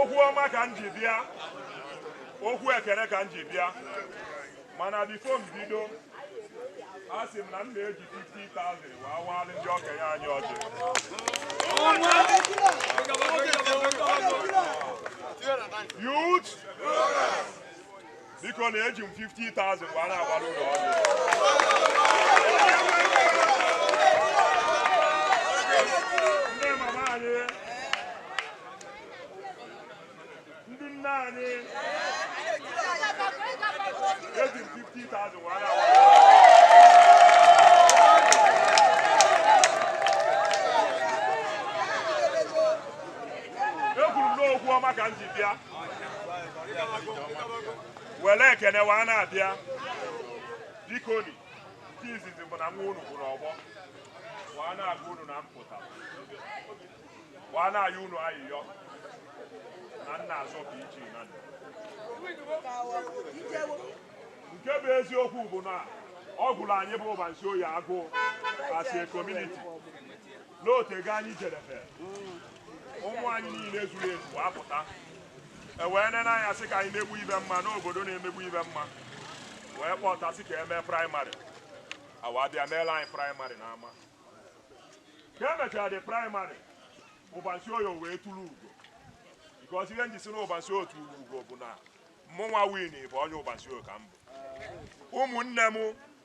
okwu ọma ka m ji bịa okwu ekele ka m ji bịa mana before m bido a sị m na m na-eji 50,000 wee awalị ndị okenye anyị ọjị youth biko na eji m 50,000 wee na-agbara ụlọ ọrụ ndị mama anyị ndị nne anyị eji m 50,000 wee na-agbara ụlọ ọrụ ekwuru m na okwu ọma ka m ji bịa were ekene wee na-abịa bikoni nke izizi bụ na nwa unu bụ n'ọgbọ wee na-agwa unu na-apụta wee na-ayọ unu ayịyọ na m na-azọ ka m chịa nando nke bụ eziokwu bụ na ọ gụrụ anyị bụ ubarunisioye agụụ as a community na o tego anyị jedebe ụmụ anyị niile zuru ezu wee apụta e wee nene anya sị ka anyị mebe ife ọma n'obodo na-emebe ife ọma wee kpọta sị ka e mee primary wa abịa meelụ anyị primary n'ama ka e mechara the primary ubarunisioye wee turu ugo because ihe m ji sị na ubarunisioye turu ugo bụ na mụnwa win bụ onye ubarunisioye ka m bụ ụmụnne m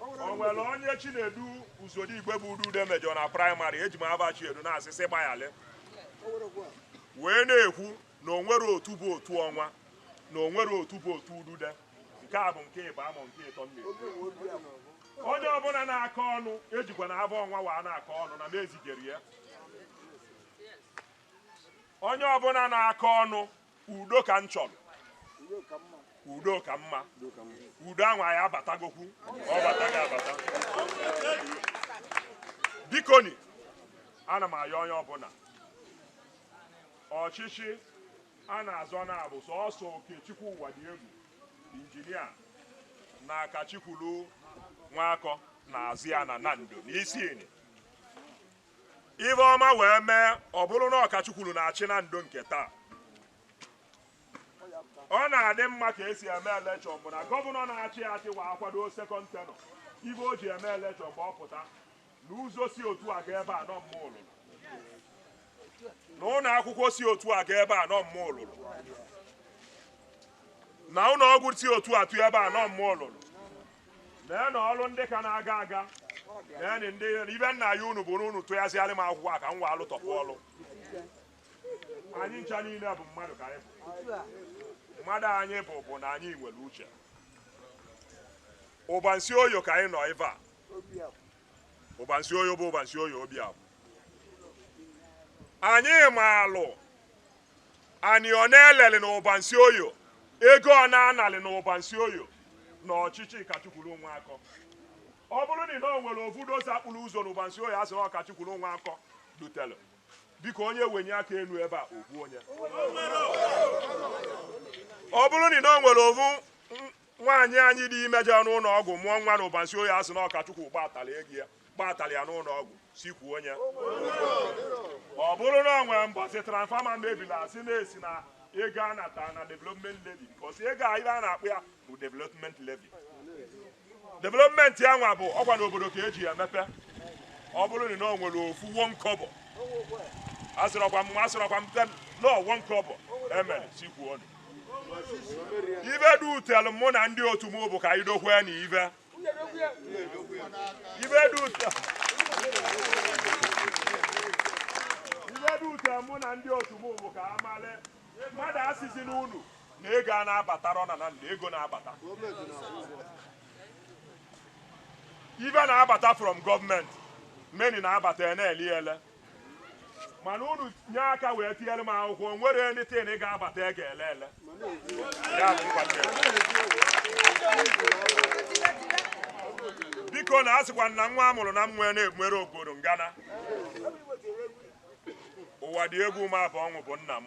o nwere onye chinedu uzodigwe bụ udude mejọ na primary eji m afa chinedu na-asị sị gbayalị wee na-ekwu na o nwere otu bụ otu ọnwa na o nwere otu bụ otu udude nke a bụ nke ịbaa m nke ịtọ m na-ekwu onye ọbụla na-akọ ọnụ ejikwana afa ọnwa wee na-akọ ọnụ na m ezigerọ ya onye ọbụla na-akọ ọnụ udo ka m chọrọ udo ka mma udo ahụ anyị abatagokwu ọ bataghị abata bikoni ana m ayọ onye ọbụla ọchịchị a na-azọ na ọ bụ sọsọ okechukwu uwadiegwu engineer na akachikwulu nwakọ na-azọ ya na nando n'isinyi Ife ọma wee mee ọ bụrụ na akachukwuru na-achị nando nke taa ọ na-adị mma ka e si eme election bụ na governor na-achị achị wa akwado second tenure ife o ji eme election bụ ọ pụta na ụzọ si otu a ga ebe a na ọ mụa lụlụ na ụlọ akwụkwọ si otu a ga ebe a na ọ mụa lụlụ na ụlọ ọgwụ si otu a tụ ebe a na ọ mụa lụlụ Lee na ọrụ ndị ka na-aga aga. Lee na ndị na ive m na-ayọ unu bụ n'unu tụghasịarị m akwụkwọ a ka m wee alụtọpụ ọrụ. Anyị ncha niile bụ mmadụ ka anyị bụ. Mmadụ anyị bụ bụ na anyị nwere uche. Ụbansi oyo ka anyị nọ ebe a. Ụbansi oyo bụ ụbansi oyo obi abụ. Anyị maalụ Ani ọ na-elelị na ụbansi oyo, ego ọ na-analị na ụbansi oyo na ọchịchị Kachukwu Nwankwọ. Ọ bụrụ na ị na o nwere ofu dozer kpụrụ ụzọ na ụbansi oyo a sị na ọ Kachukwu Nwankwọ dutelụ, biko onye wenye aka enu ebe a, o kwuo onye. Ọ bụrụ na ị na o nwere ofu nwaanyị anyị dị ime jere n'ụlọ ọgwụ mụọ nwa na ụbansi oyo a sị na ọ Kachukwu gbatara ego ya, gbatara ya n'ụlọ ọgwụ sị kwuo onye ọ bụrụ na ọ nwere mbọsị transfọma mebiri a sị na e si na ego a natara na development levy because ego a ive a na-akpọ ya bụ development levy development ya nwa bụ ọkwa n'obodo ka e ji ya emepe ọ bụrụ na ọ nwere ofu one kọbọ asịrọkwa m asịrọkwa m ten naira one kọbọ e mere sị kwuo onye ive dutelụ mụ na ndị otu m bụ ka anyị dokwe na ive ive dute mụ na ndị otu m bụ ka a male mmadụ asịzi n'unu na ego a na-abatara ọ na na ndụ ego na-abata ive na-abata from government money na-abata ya na-eli eli mana unu nye aka wee tinyere m akwụkwọ nwere anything ị ga-abata ị ga-ele ele Ya bụ nkwado ya. biko na a sịkwa na nwa a mụrụ na mmụọ na-ebumere obodo ngana ụwa dị egwu ma bụ ọṅụ bụ nna m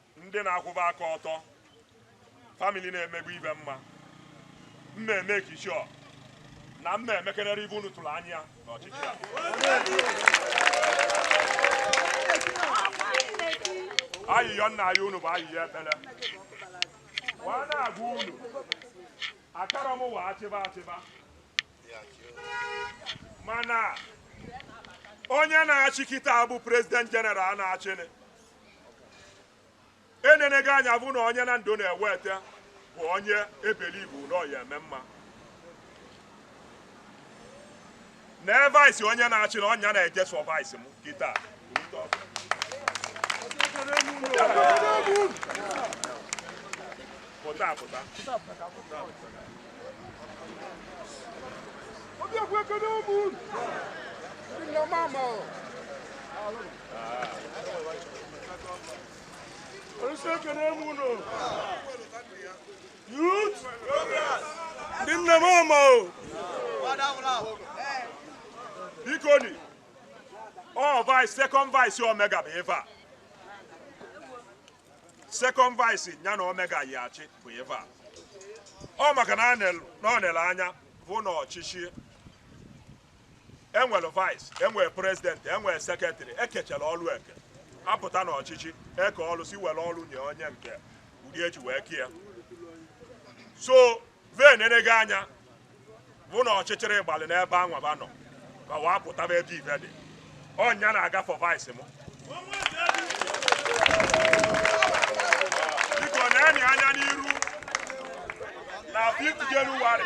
ndị na-akwụba aka ọtọ famili na-emegbu ibe mma mma eme kichọ na mma emekerere ive unu tụrụ anya n'ọchịchị a ayịyọ m na-ayọ unu bụ ayịyọ ekpere wa na-agwa unu akara m wa achịba achịba mana onye na-achịkịta bụ president general na-achịnị enenego anya bụ na onye na ndụ na-eweta bụ onye ebelibu na ọ ya eme mma na-advise onye na-achị na ọ ya na-eje sọvaisi m kịta pụta pụta Obi ekwe ekene ụmụ unu. Ndị nna mama. ndị nne m ama o biko ni ọ vice second vice omega bụ ife a second vice ya na omega yi achị bụ ife a ọ maka na ọ nele anya vụ na ọchịchị enwere vice enwere prezidenti enwere sekretrị ekechara ọrụ eke apụta n'ọchịchị eke ọrụ si were ọrụ nye onye nke ụdị esi wee kee so vee na-enega anya vụ na ọchịchịrị gbalị n'ebe anwa ba nọ ma wee apụtaba ebe ive dị onye na-aga for vice m biko neeni ya anya n'iru na 5 Jenụwarị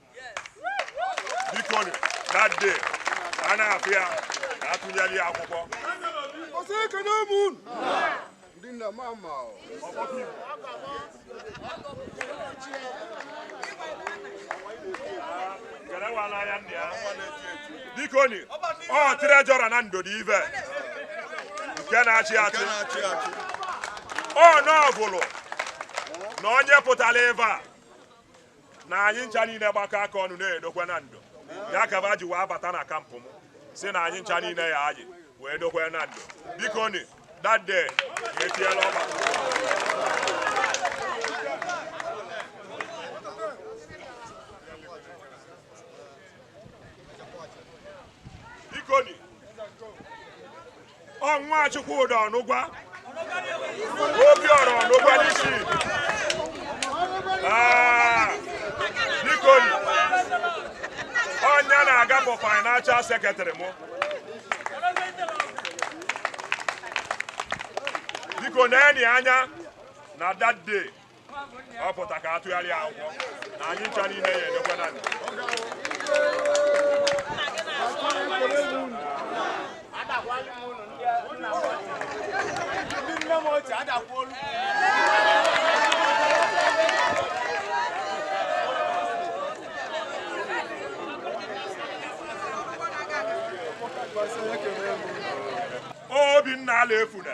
biko that day a na-afụ ya na atụnyere ya akwụkwọ ndị nna m ama biko ni ọ treasurer Nando dị ive nke na-achị achị na ọ bụlụ na onye pụtara ebe a na anyị ncha niile gbakọ aka ọnụ na-edokwe Nando ya ka ba ji wee bata na camp m sị na anyị ncha niile ya anyị wee dokwe Nando biko ni that day etiela ọba biko ni ọ nwa Chukwudi Ọnụgwa Obiọra Ọnụgwa n'isi ah, biko onye na-aga bụ financial secretary mụ biko neeni ya anya na that day ọ pụta ka atụgharịa akwụkwọ na anyị ncha niile ya enekwa anya na Obinna Alaefuna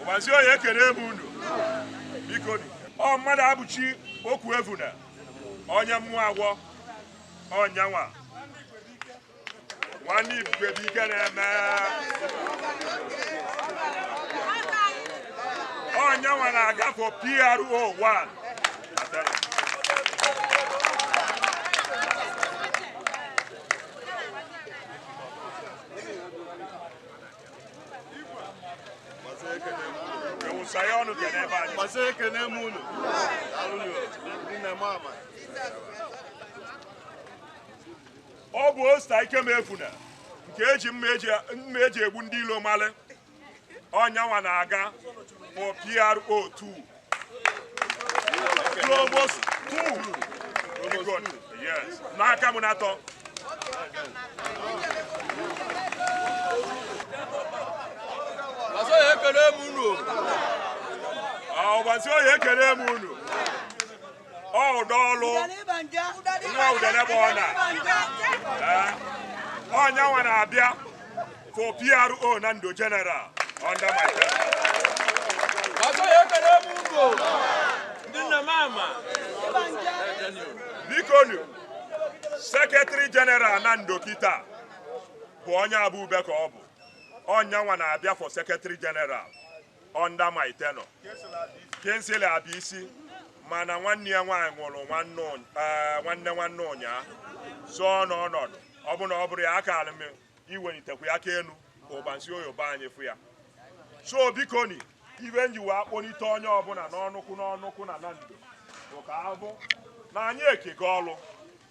Ụbansi Oye ekene m unu biko ọ Mmadụabụchi Okwuevuna onye mmụọ agwọ ọ nyanwa nwanne ibube bụ ike na-eme ọ nyanwa na-aga for PRO 1 Thank you. ọ bụ Osita Ikemefuna nke e ji mma e ji egbu ndị ilo mali ọ nyanwa na-aga for PRO2 n'aka m na-atọ ọzọ ya ekele m unu Ụbansi Oye ekele m unu ọ ụdọ ọlụ nwa udene bụ ọna ọ nyanwa na-abịa for PRO Nando general under my bikonu sekretari general Nando kita bụ onye Abube ka ọ bụ ọ nyanwa na-abịa for sekretari general under my tenure Kingsley Abisi mana nwanne ya nwaanyị nwụrụ nwanne ụny- eh, nwanne nwanne ụnyaa so n'ọnọdụ ọ bụ na ọ bụrọ ya akara m iwelitekwa ya aka elu ka Ụbansi Oye be anyị fụ ya so bikoni ive m ji wee akpọlite onye ọbụla n'ọnụkwụ n'ọnụkwụ na Nando bụ ka ọ bụ na anyị ekego ọlụ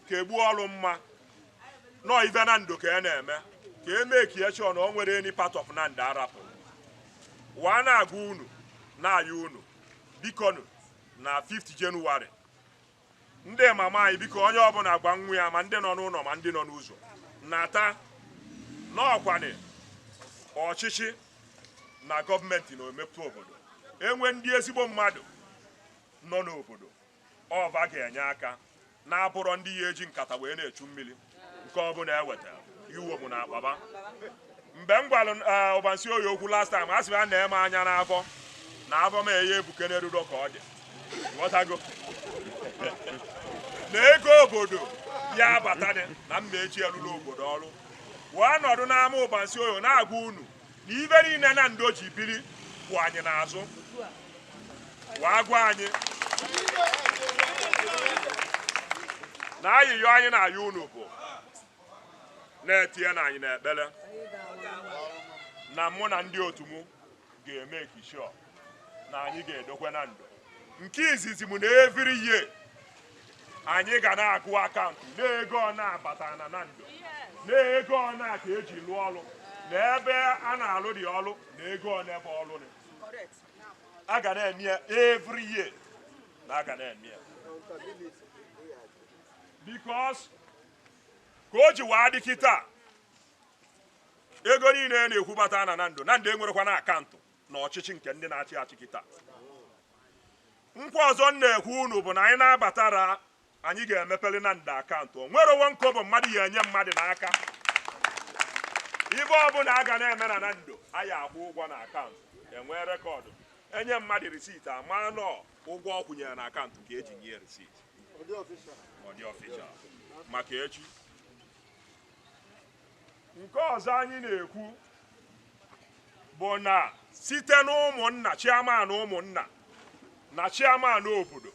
ka egbu ọlụ mma nọọ ife Nando ka e na-eme ka e mee ka ya chee na o nwere any part of Nando a rapụ wee na-agwa unu na-ayọ unu bikonu na 5th Jenụwarị ndị mama anyị biko onye ọbụla gwa nwa ya ma ndị nọ n'ụlọ ma ndị nọ n'ụzọ nata na ọkwanị ọchịchị na gọọmenti na omepe obodo e nwee ndị ezigbo mmadụ nọ n'obodo Ọ va ga-enye aka na ọ bụrọ ndị ya eji nkata wee na-echu mmiri nke ọbụla e weta ya uwomụ na akpa va. Mgbe m gwara eh, Ụbansi Oye okwu last time, a sị m ya nee m anya n'afọ na afọ m eye ebuke n'eruro ka ọ dị. Ghọtago? na ego obodo ya abatadị na m ya eji ya lụlụ obodo ọrụ wee nọdụ n'ama Ụbansi Oye na-agwa unu na ive niile Nando ji biri kwụ anyị n'azụ wee gwa anyị na ayịyọ anyị na-ayọ unu bụ na-etinyenụ anyị n'ekpere na mụ na ndị otu m ga-emake sure na anyị ga-edokwe Nando nke izizi m na every year anyị ga na-agụ akaụntụ na ego one abata na Nando na ego one ka eji lụọ ọrụ na ebe a na-alụ dị ọrụ na ego ọ na-ebe ọrụ dị a ga na-eme ya every year na a ga na-eme ya because ka o ji waa dị kịta ego niile na-akwụbata na Nando Nando enwerọkwanụ akaụntụ na ọchịchị nke ndị na-achị achị kịta nkwa ọzọ m na-ekwe unu bụ na anyị na-abatara anyị ga-emepere Nando akaụntụ o nwerọ one kobo mmadụ ya-enye mmadụ n'aka ive ọbụla a ga na-eme na Nando anyị akwụọ ụgwọ na akaụntụ enwee rekọdụ enye mmadụ risiti ama na ụgwọ ọ kwụnyere na akaụntụ ka eji nye risiti ọ dị official maka echi nke ọzọ anyị na-ekwu bụ na site n'ụmụnna chairman ụmụnna na chairman obodo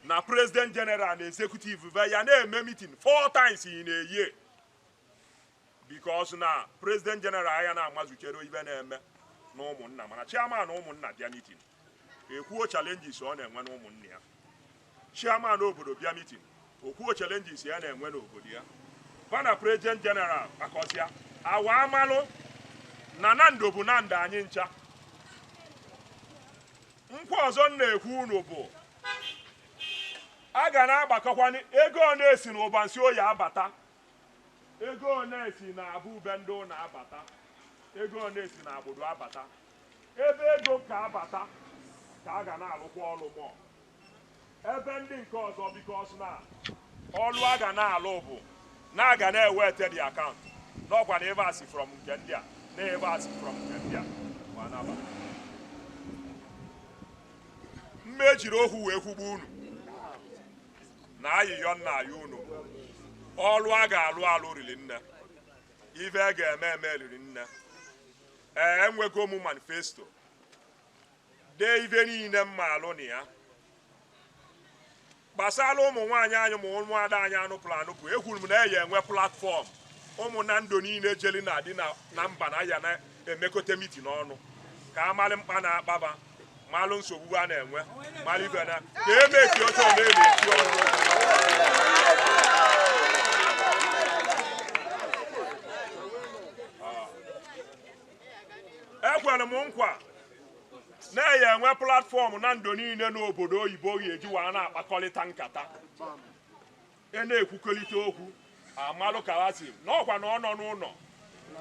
na president general na executive be ya na-eme mitin four times in a year because na president general aya na-amazuchere ive na-eme na ụmụnna mana chairman ụmụnna bịa mitin ekwuo challenges ọ na-enwe n'ụmụnna ya chairman obodo bịa mitin okwuo challenges ya na-enwe n'obodo ya va na president general akọsịa a waa malụ na Nando bụ Nando anyị ncha nkwa ọzọ m na-ekwe unu bụ a ga na-agbakọkwanye ego ole si na Ubarunisioye abata ego ole si na Abube Ndị Ụnọ abata ego ole si na Agbudu abata Ebe ego ka abata ka a ga na-alụkwa ọlụ more ebe ndị nke ọzọ because na ọlụ a ga na-alụ bụ na a ga na-ewete the account n'ọkwa na ebe a si from nke ndị a na ebe a si from nke ndị a mana ama m ejiri okwu wee kwugbu unu na ayịyọ m na-ayọ unu ọlụ a ga-alụ alụ riri nne ive a ga-eme eme riri nne Ee, enwego m manifesto dee ive niile m maalụ na ya gbasara ụmụ nwaanyị anyị ma ụmụada anyị anụpụrụ anụpụ ekwuru m na a ya-enwe platform ụmụ Nando niile jeli na di na mba na ya na-emekọta mitin ọnụ ka amalụ mkpa na-akpa va malụ nsogbu a na-enwe malụ ive na ka e mechie oche ọ na-emechi ọrụ ekwere m nkwa na a ya enwe platfọm Nando niile n'obodo oyibo ga-eji wee na-akpakọrịta nkata E na-ekwukọlite okwu amalụ ka ha si na ọkwa na ọ nọ n'ụlọ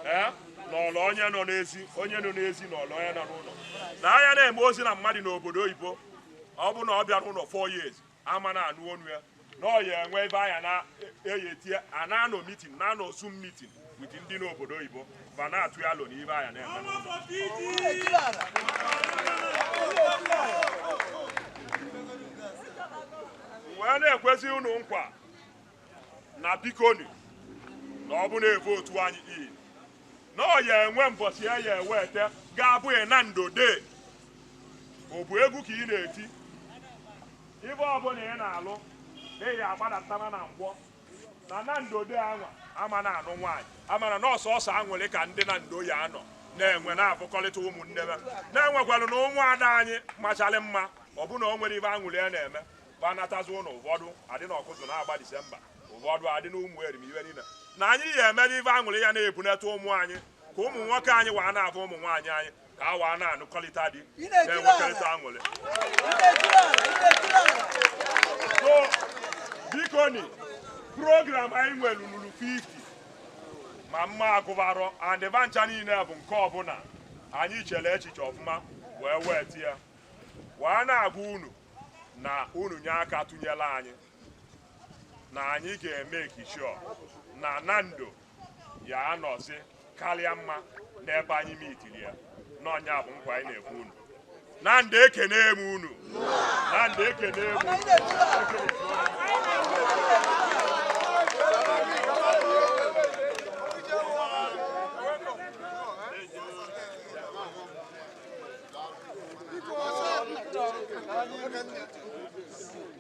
ee nọlọ onye nọ n'ezi onye nọ n'ezi nọlọ onye nọ n'ụlọ na a ya na-eme ozi na mmadụ n'obodo oyibo ọ bụ na ọ bịarọ ụlọ four years a ma na-anụ onu ya na ọ ya enwe ebe a ya na-eyetie a na-anọ mitin na-anọ zoom mitin with ndị n'obodo oyibo ma na-atụ alo na ive a ya na-eme wee na-ekwezi unu nkwa na bikoni na ọ bụ na e vootu anyị in na ọ ya enwe mbọchị a ya ewete ga-abụ ya Nando Day ọ bụ egwu ka ị na-eti ive ọbụla ị na-alụ ị ya agbadata na nkwọ na Nando Day anwa a ma na-anụ nwaanyị amara na ọ sọsọ anwụrị ka ndị Nando ya anọ na-enwe na-avụkọrịta ụmụnne ha na-enwekwara na ụmụada anyị macharị mma ọbụna o nwere ive anwụrị ya na-eme gbanatazi ụlọ ụfọdụ adị na ọkụzụ na-agba disemba ụfọdụ adị na ụmụ erim ive niile na anyị ya eme ive anwụrị ya na-ebunata ụmụ anyị ka ụmụ nwoke anyị wa na-avụ ụmụ nwaanyị anyị ka wa na-anụkọrịta di na-enwekọrịta aṅụrị so biko ni program anyị nwere luru 50 ma mma agụbarọ andịba ncha niile bụ nke ọbụla anyị chere echiche ọfụma wee wetie wee na-agwa unu na unu nye aka tụnyere anyị na anyị ga-emake sure na Nando ya anọzi karịa mma n'ebe anyị mitiri ya na ọ nya bụ nkwa anyị na-ekwe unu Nando ekenee m unu Nando ekenee m unu Thank you.